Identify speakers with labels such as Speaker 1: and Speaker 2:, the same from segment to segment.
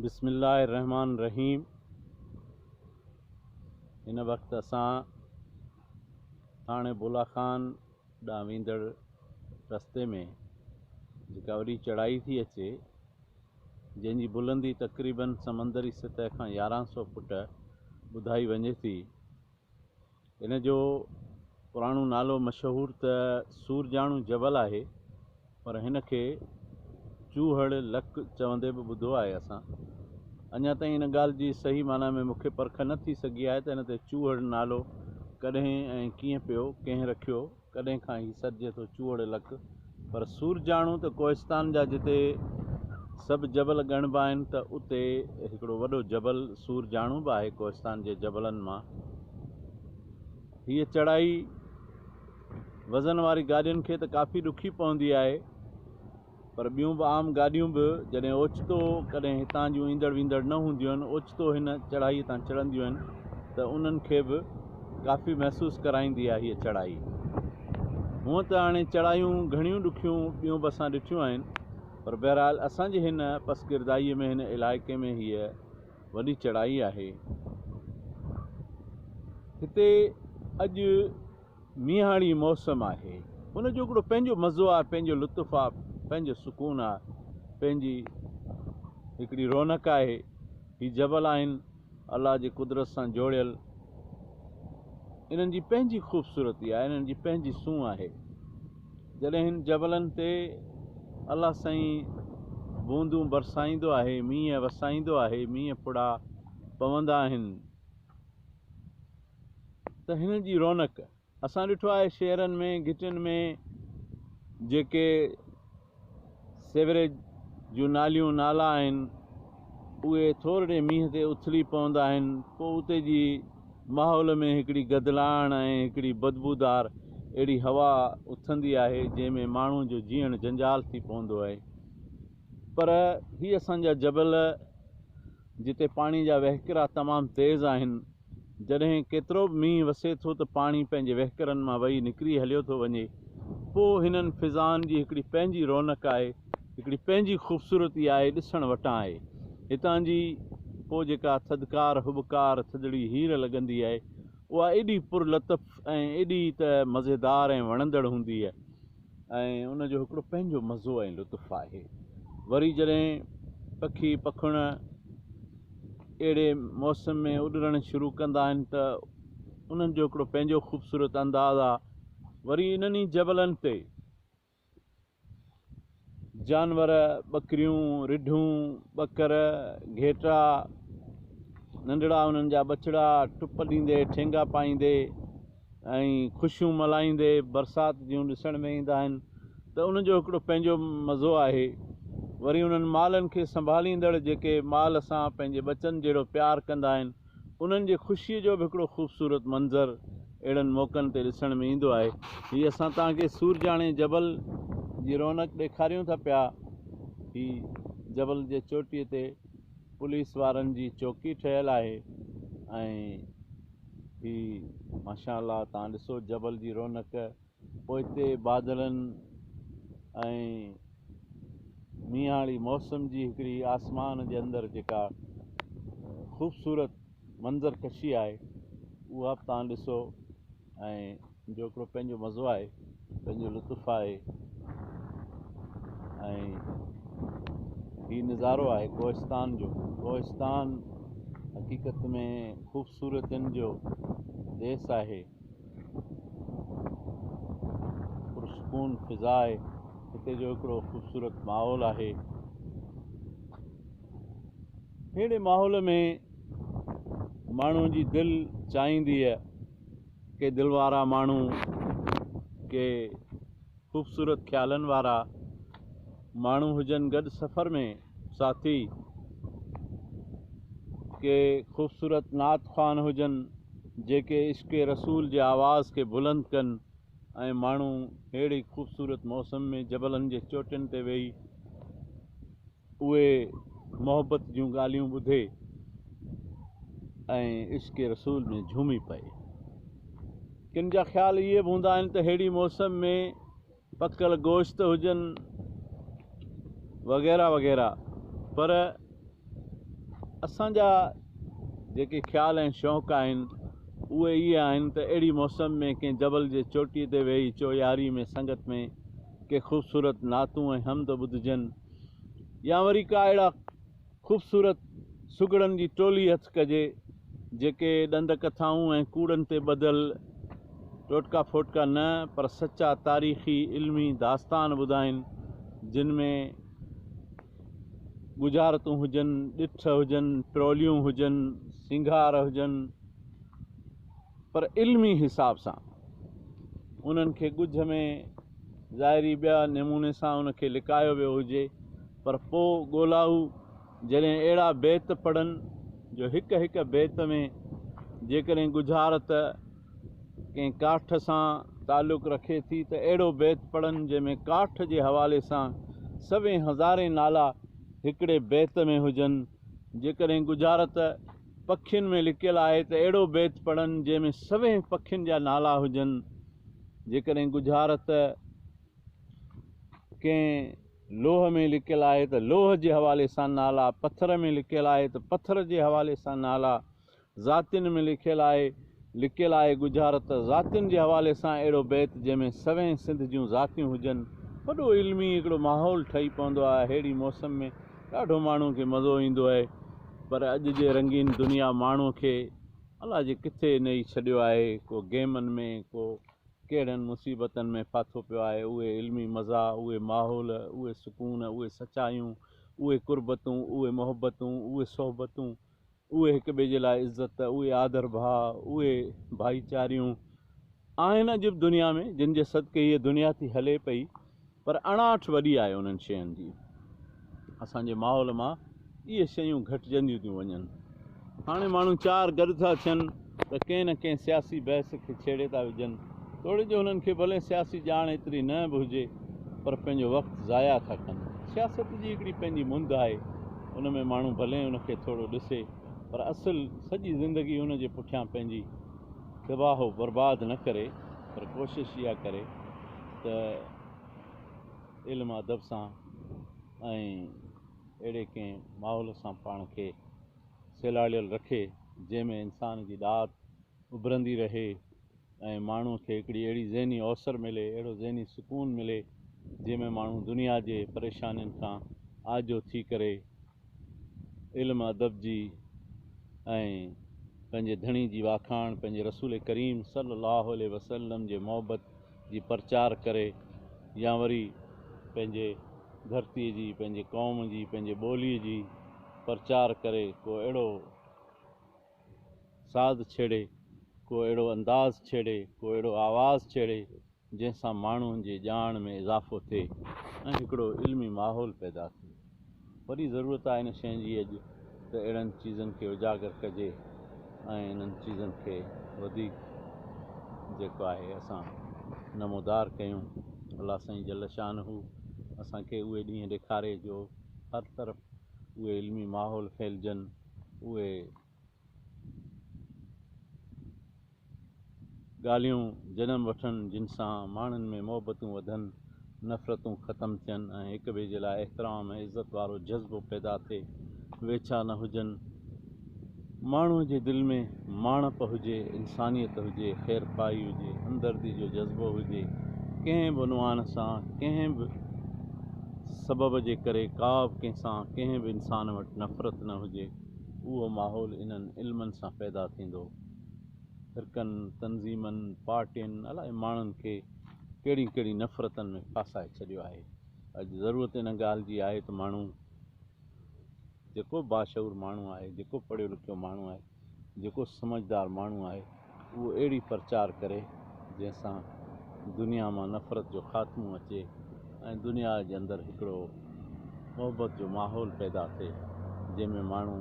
Speaker 1: بسم الله الرحمٰن الرحيم هن وقت اسان ٿاڻي بولا خان ڏانهن ويندڙ رستي ۾ جيڪا وڏي چڙهائي ٿي اچي جنهن جي بلندي تقريبن سمندري سطح کان يارهن سؤ فوٽ ٻڌائي وڃي ٿي هن جو پراڻو نالو مشهور ته سورجاڻو جبل آهي پر هن کي چوهڙ لڪ چوندي به ٻڌو آهي اسان اڃا تائين ان ڳالهه جي صحيح معنيٰ ۾ مونکي پرک نه ٿي سگهي آهي ته هن تي چوهڙ نالو ڪڏهن ۽ ڪيئن پيو ڪنهن رکيو ڪڏهن کان هي سڏجي ٿو چوهڙ لڪ پر سورجاڻو ته ڪوهستان جا جتي سڀ جبل ڳڻبا آهن ته اتي هڪڙو وڏو جبل سورجاڻو به آهي ڪوهستان جي جبلن مان هيء چڙهائي وزن واري گاڏين کي ته ڪافي ڏکي پوندي آهي پر ٻيون به عام گاڏيون به جڏهن اوچتو ڪڏهن هتان جون ايندڙ ويندڙ نه هونديون آهن اوچتو هن چڙهائي تان چڙهنديون آهن ته انهن کي به ڪافي محسوس ڪرائيندي آهي هيء چڙهائي هونء ته هاڻي چڙهايون گهڻيون ڏکيون ٻيون به اسان ڏٺيون آهن پر بهرحال اسان جي هن پسگردائيء ۾ هن علائقي ۾ هيء وڏي چڙهائي آهي هتي اڄ مينهاڻي موسم آهي ان جو هڪڙو پنهنجو مزو آهي پنهنجو لطف آهي پنهنجو سڪون آهي پنهنجي هڪڙي رونق آهي هي جبل آهن الله جي قدرت سان جوڙيل انهن جي پنهنجي خوبصورتي آهي انهن جي پنهنجي سونهن آهي جڏهن هن جبلن تي الله سائين بوندون برسائيندو آهي مينهن وسائيندو آهي مينهن ڦڙا پوندا آهن ته هن جي رونق اسان ڏٺو آهي شهرن ۾ گهٽين ۾ جيڪي سيوريج جون ناليون نالا آهن اهي ٿورڙي مينهن تي اٿلي پوندا آهن پوء اتي جي ماحول ۾ هڪڙي گدلاڻ ۽ هڪڙي بدبودار اهڙي هوا اٿندي آهي جنهن ۾ ماڻهو جو جيئڻ جنجال ٿي پوندو آهي پر هي اسان جا جبل جتي پاڻي جا وهڪرا تمام تيز آهن جڏهن ڪيترو به مينهن وسي ٿو ته پاڻي پنهنجي وهڪرن مان وهي نڪري هليو ٿو وڃي. پوء هنن فضائن جي هڪڙي پنهنجي رونق آهي، هڪڙي پنهنجي خوبصورتي آهي، ڏسڻ وٽان آهي. هتان جي پوء جيڪا ٿڌڪار هٻڪار ٿڌڙي هير لڳندي آهي، اها ايڏي پرلطف ۽ ايڏي ته مزيدار ۽ وڻندڙ هوندي آهي، ۽ ان جو هڪڙو پنهنجو مزو ۽ لطف آهي. وري جڏهن پکي پکڻ اهڙي موسم ۾ اڏرڻ شروع ڪندا آهن ته انهن جو هڪڙو پنهنجو خوبصورت انداز آ. وري انهن ئي جبلن تي جانور، ٻڪريون، رڍون، ٻڪر، گهيٽا، ننڍڙا انهن جا ٻچڙا ٽپ ڏيندي، ٺينگا پائيندي، ۽ خوشيون ملهائيندي برسات جون ڏسڻ ۾ ايندا آهن ته ان جو هڪڙو پنهنجو مزو آهي وري انهن مالن کي سنڀاليندڙ جيڪي مال سان پنهنجي ٻچن جهڙو پيار ڪندا آهن انهن جي خوشي جو به هڪڙو خوبصورت منظر اهڙن موقعن تي ڏسڻ ۾ ايندو آهي هي اسان توهان کي سورجاڻي جبل جي رونق ڏيکاريون ٿا پيا هي جبل جي چوٽي تي پوليس وارن جي چوڪي ٺهيل آهي ۽ هي ماشاء الله تان ڏسو جبل جي رونق پوئتي بادلن ۽ مينهاڙي موسم جي هڪڙي آسمان جي اندر جيڪا خوبصورت منظر ڪشي آهي اها به تان ڏسو ۽ جو هڪڙو پنهنجو مزو آهي پنهنجو لطف آهي ۽ هي نظارو آهي ڪوهستان جو ڪوهستان حقيقت ۾ خوبصورتين جو ديس آهي پرسڪون فضا آهي هتي جو هڪڙو خوبصورت ماحول آهي اهڙي ماحول ۾ ماڻهو جي دل چاهيندي ڪي دل وارا ماڻهو، ڪي خوبصورت خيالن وارا ماڻهو هجن گڏ سفر ۾ ساٿي، ڪي خوبصورت نعت خوان هجن جيڪي عشق رسول جي آواز کي بلند ڪن ۽ ماڻهو ههڙي خوبصورت موسم ۾ جبلن جي چوٽين تي ويهي، اهي محبت جون ڳالهيون ٻڌي ۽ عشق رسول ۾ جهومي پئي. ڪن جا خيال اهي به هوندا آهن ته ههڙي موسم ۾ پڪل گوشت هجن وغيره وغيره پر اسان جا جيڪي خيال ۽ شوق آهن اهي اهي آهن ته اهڙي موسم ۾ ڪنهن جبل جي چوٽي تي ويهي چوياري ۾ سنگت ۾ ڪي خوبصورت نعتون ۽ حمد ٻڌجن يا وري ڪا اهڙا خوبصورت سگهڙن جي ٽولي هٿ ڪجي، جيڪي ڏند ڪٿائون ۽ ڪوڙن تي ٻڌل ٽوٽڪا ڦوٽڪا نه پر سچا تاريخي علمي داستان ٻڌائين، جن ۾ ڳجهارتون هجن، ڏٺ هجن، پروليون هجن، سينگار هجن. پر علمي حساب سان انهن کي ڳجهه ۾ ظاهري ٻيا نموني سان ان کي لڪايو ويو هجي پر پوء ڳولائو جڏهن اهڙا بيت پڙهن جو هڪ هڪ بيت ۾ جيڪڏهن ڳجهارت ڪنهن ڪاٺ سان تعلق رکي ٿي ته اهڙو بيت پڙهن جنهن ۾ ڪاٺ جي حوالي سان سوين هزارين نالا هڪڙي بيت ۾ هجن جيڪڏهن ڳجهارت پکين ۾ لڪيل آهي ته اهڙو بيت پڙهن جنهن ۾ سوين پکين جا نالا هجن جيڪڏهن ڳجهارت ڪنهن لوهه ۾ لڪيل آهي ته لوهه جي حوالي سان نالا پٿر ۾ لڪيل آهي ته پٿر جي حوالي سان نالا ذاتين ۾ لکيل آهي لڪيل آهي ڳجهارت ذاتين جي حوالي سان اهڙو بيت جنهن ۾ سوين سنڌ جون ذاتيون هجن وڏو علمي هڪڙو ماحول ٺهي پوندو آهي اهڙي موسم ۾ ڏاڍو ماڻهو کي مزو ايندو آهي پر اڄ جي رنگين دنيا ماڻهو کي الا جي ڪٿي نيئي ڇڏيو آهي ڪو گيمن ۾ ڪو ڪهڙن مصيبتن ۾ ڦاٿو پيو آهي اهي علمي مزا اهي ماحول اهي سڪون اهي سچايون اهي قربتون اهي محبتون اهي صحبتون اهي هڪ ٻئي جي لاء عزت، اهي آڌر ڀاء، اهي ڀائيچاريون آهن عجب دنيا ۾ جن جي صدقي هيء دنيا ٿي هلي پئي پر اڻاٺ وڏي آهي انهن شين جي. اسان جي ماحول مان اهي شيون گهٽجنديون ٿيون وڃن. هاڻي ماڻهو چار گڏ ٿا ٿين. ته ڪنهن نه ڪنهن سياسي بحث کي ڇيڙي ٿا وجهن، توڙي جو هنن کي ڀلي سياسي ڄاڻ ايتري نه به هجي پر پنهنجو وقت ضايع ٿا ڪن. سياست جي هڪڙي پنهنجي مند آهي، ان ۾ ماڻهو ڀلي ان کي ٿورو ڏسي پر اصل سڄي زندگي ان جي پٺيان پنهنجي تباهه و برباد نه ڪري پر ڪوشش اها ڪري ته علم ادب سان ۽ اهڙي ڪنهن ماحول سان پاڻ کي سيلاڙيل رکي، جنهن ۾ انسان جي ڏات اڀرندي رهي ۽ ماڻهوء کي هڪڙي اهڙي ذهني اوسر ملي، اهڙو ذهني سڪون ملي، جنهن ۾ ماڻهو دنيا جي پريشانين کان آجو ٿي ڪري علم ادب جي ۽ پنهنجي ڌڻي جي واکاڻ، پنهنجي رسول ڪريم صلي الله عليه وسلم جي محبت جي پرچار ڪري يا وري پنهنجي ڌرتي جي پنهنجي قوم جي پنهنجي ٻولي جي پرچار ڪري ڪو اهڙو ساز ڇيڙي ڪو اهڙو انداز ڇيڙي ڪو اهڙو آواز ڇيڙي جنهن سان ماڻهن جي ڄاڻ ۾ اضافو ٿئي ۽ هڪڙو علمي ماحول پيدا ٿئي. وڏي ضرورت آهي ان شين جي اڄ ته اهڙن چيزن کي اجاگر ڪجي ۽ انهن چيزن کي وڌيڪ جيڪو آهي اسان نمودار ڪيون الله سائين جل شانه اسان کي اهي ڏينهن ڏيکاري جو هر طرف اهي علمي ماحول ڦهلجن اهي ڳالهيون جنم وٺن جن سان ماڻهن ۾ محبتون وڌن، نفرتون ختم ٿين ۽ هڪ ٻئي جي لاء احترام ۽ عزت وارو جذبو پيدا ٿئي، ويڇا نه هجن، ماڻهوء جي دل ۾ ماڻهپ هجي، انسانيت هجي، خيرخواهي هجي، همدردي جو جذبو هجي، ڪنهن به عنوان سان، ڪنهن به سبب جي ڪري ڪا به ڪنهن سان، ڪنهن به انسان وٽ نفرت نه هجي. اهو ماحول انهن علمن سان پيدا ٿيندو. فرقن، تنظيمن، پارٽين الائي ماڻهن کي ڪهڙين ڪهڙين نفرتن ۾ ڦاسائي ڇڏيو آهي. اڄ ضرورت ان ڳالهه جي آهي ته ماڻهو جيڪو باشعور ماڻهو آهي، جيڪو پڙهيو لکيو ماڻهو آهي، جيڪو سمجهدار ماڻهو آهي، اهو اهڙي پرچار ڪري جنهن سان دنيا مان نفرت جو خاتمو اچي ۽ دنيا جي اندر هڪڙو محبت جو ماحول پيدا ٿئي جنهن ۾ ماڻهو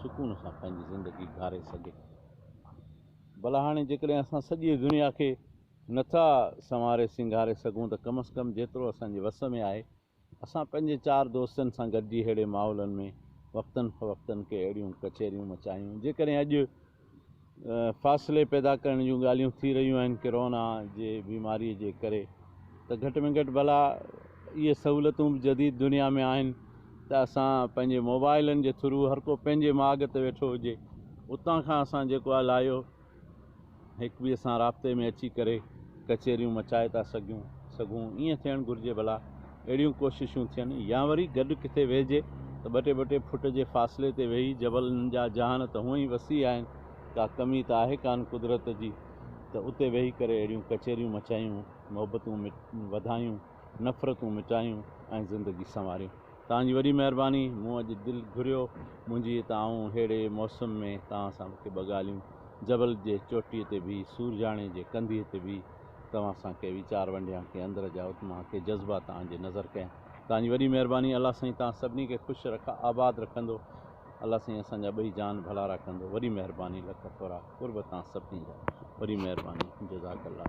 Speaker 1: سڪون سان پنهنجي زندگي گهاري سگهي. ڀلا هاڻي جيڪڏهن اسان سڄي دنيا کي نه ٿا سنواري سينگاري سگهون ته ڪم از ڪم جيترو اسان جي وس ۾ آهي اسان پنهنجي چار دوستن سان گڏجي ههڙي ماحولن ۾ وقتن فوقتن ڪي اهڙيون ڪچهريون مچايون جيڪڏهن اڄ فاصلي پيدا ڪرڻ جون ڳالهيون ٿي رهيون آهن ڪرونا جي بيماري جي ڪري ته گهٽ ۾ گهٽ ڀلا اهي سهولتون به جديد دنيا ۾ آهن ته اسان پنهنجي موبائلن جي ٿرو هر ڪو پنهنجي ماڳ تي ويٺو هجي اتان کان اسان جيڪو آهي لايو هڪ ٻئي سان رابطي ۾ اچي ڪري ڪچهريون مچائي ٿا سگهيون سگهون ائين ٿيڻ گهرجي ڀلا اهڙيون ڪوششون ٿين يا وري گڏ ڪٿي ويهجي ته ٻه ٽي ٻه ٽي فٽ جي فاصلي تي ويهي جبلن جا جهان ته هونئن ئي وسيع آهن ڪا ڪمي ته آهي ڪانه قدرت جي ته اتي ويهي ڪري اهڙيون ڪچهريون مچايون محبتون وڌايون نفرتون مٽايون ۽ زندگي سنواريون. توهان جي وڏي مهرباني مون اڄ دل گهريو منهنجي ته آئون ههڙي موسم ۾ توهان سان ڪي ٻه ڳالهيون جبل جي چوٽي تي بيهي سورجاڻي جي ڪنڌيء تي بيهي توهان سان ڪي ويچار ونڊيان ڪي اندر جا اتمها ڪي جذبا توهان جي نظر ڪيان توهان جي وڏي مهرباني الله سائين توهان سڀني کي خوش رک آباد رکندو الله سائين اسان جا ٻئي جان ڀلارا ڪندو وڏي مهرباني لک ٿورا قرب توهان سڀني جا وڏي مهرباني جزاڪ الله.